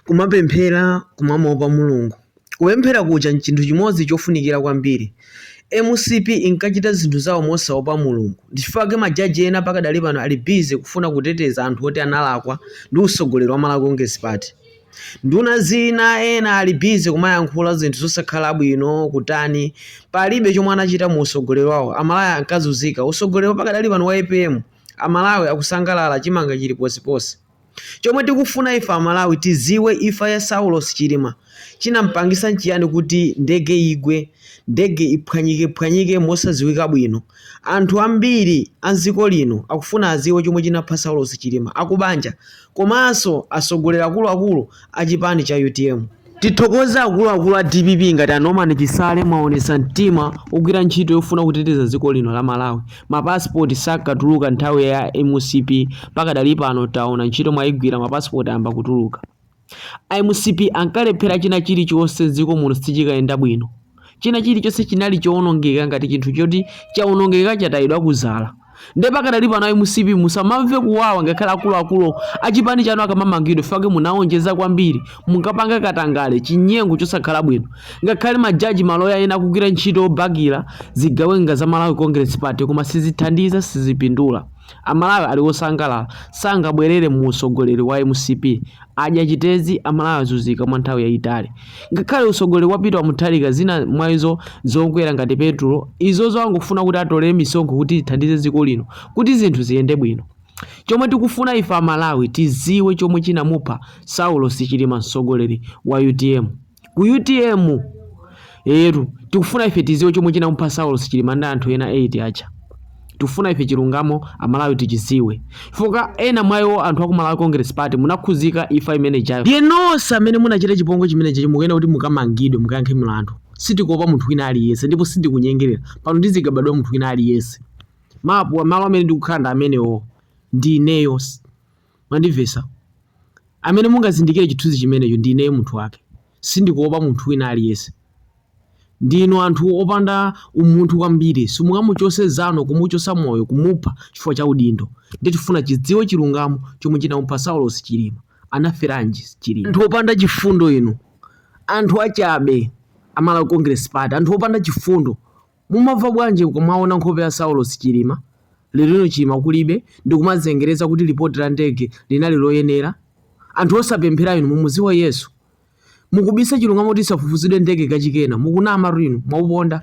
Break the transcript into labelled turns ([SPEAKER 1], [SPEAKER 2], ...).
[SPEAKER 1] Kumapemphera, kumamuopa Mulungu. Kupemphera kuja n'chinthu chimodzi chofunikira kwambiri. Mcp inkachita zinthu zawo mosaopa Mulungu. Ndichifukwa chake majaji ena pakadali pano ali busy kufuna kuteteza anthu oti analakwa ndi usogoleri wa Malawi Congress Party. Nduna zina ena ali busy kumayankhula zinthu zosakhala bwino, kutani. Palibe chomwe anachita mu usogoleri wawo. Amalawi ankazunzika. Usogoleri wa pakadali pano wa apm, Amalawi akusangalala, chimanga chili ponseponse. Chomwe tikufuna ife amalawi tiziwe ifa ya saulos chilima chinampangisa nchiyani kuti ndege igwe ndege iphwanyike phwanyike mosaziwika bwino anthu ambiri amziko lino akufuna aziwe chomwe chinapha saulos chilima akubanja komanso asogoleri akuluakulu achipani cha utm Tithokoze akuluakulu a dpp ngati a Norman Chisale mwaonesa mtima ogwira ntchito yofuna kuteteza dziko lino la Malawi. Ma passport sakatuluka nthawi ya mcp pakadali pano taona ntchito mwaigwira ma passport ayamba kutuluka. A mcp ankalephera china chilichonse dziko muno sichikayenda bwino. china chilichonse chinali chowonongeka ngati chinthu choti chawonongeka chatayidwa kuzala nde pakadali pano a mcp musamamve kuwawa ngakhale akuluakulu achipani chanu akamamangidwe chifukwa munawonjeza kwambiri munkapanga katangale chinyengo chosakhala bwino ngakhale majaji maloya ena akugwira ntchito yobakira zigawenga za malawi congress party koma sizithandiza sizipindula amalawi ali osangalala sangabwerere mu usogoleri wa mcp Adya chitezi, amalawi azuzika mwa nthawi yayitali. Ngakhale usogoleri wa Peter Mutharika zina mwa izo zokwera ngati petulo izozo akufuna kuti atolere misonkho kuti zithandize dziko lino kuti zinthu ziyende bwino. Chomwe tikufuna ife amalawi tiziwe chomwe chinamupha Saulosi Chilima msogoleri wa utm. ku utm tikufuna ife tiziwe chomwe chinamupha saulos chilima ndi anthu ena 8 aja tikufuna ife chilungamo amalawi tichiziwe chifukwa ena mwa iwo anthu aku malawi congress party munakhuzika ifa imene ijayo ndiye nonse amene munachita chipongwe chimenechi mukuyenera kuti mukamangidwe mukayankhe mlandu sitikuopa munthu wina aliyense ndipo sindikunyengerera pano ndizigabadwa munthu wina aliyense mapu malo amene ndikukhala ndi amenewo ndi ineyo Mwandimvetsa? Amene mungazindikire chithunzi chimenecho ndi ineyo munthu wake. Sindikuopa munthu wina aliyense. Ndinu anthu opanda umunthu kwambiri, simungamuchose nzanu kumuchosa moyo kumupha chifukwa cha udindo. Ndiye tifuna tidziwe chilungamo chomwe chinamupha Saulos Chilima. Anaferanji Chilima? Anthu opanda chifundo inu. Anthu achabe a Malawi Congress Party. Anthu opanda chifundo. Mumamva bwanji mukamaona nkhope ya Saulos Chilima, lerolino Chilima kulibe, ndikumazengereza kuti lipoti la ndege linali loyenera? Anthu osapemphera inu mumuziwa Yesu? Mukubisa chilungamo kuti isafufuzidwe ndege kachikena, mukunamatu inu, mwauponda.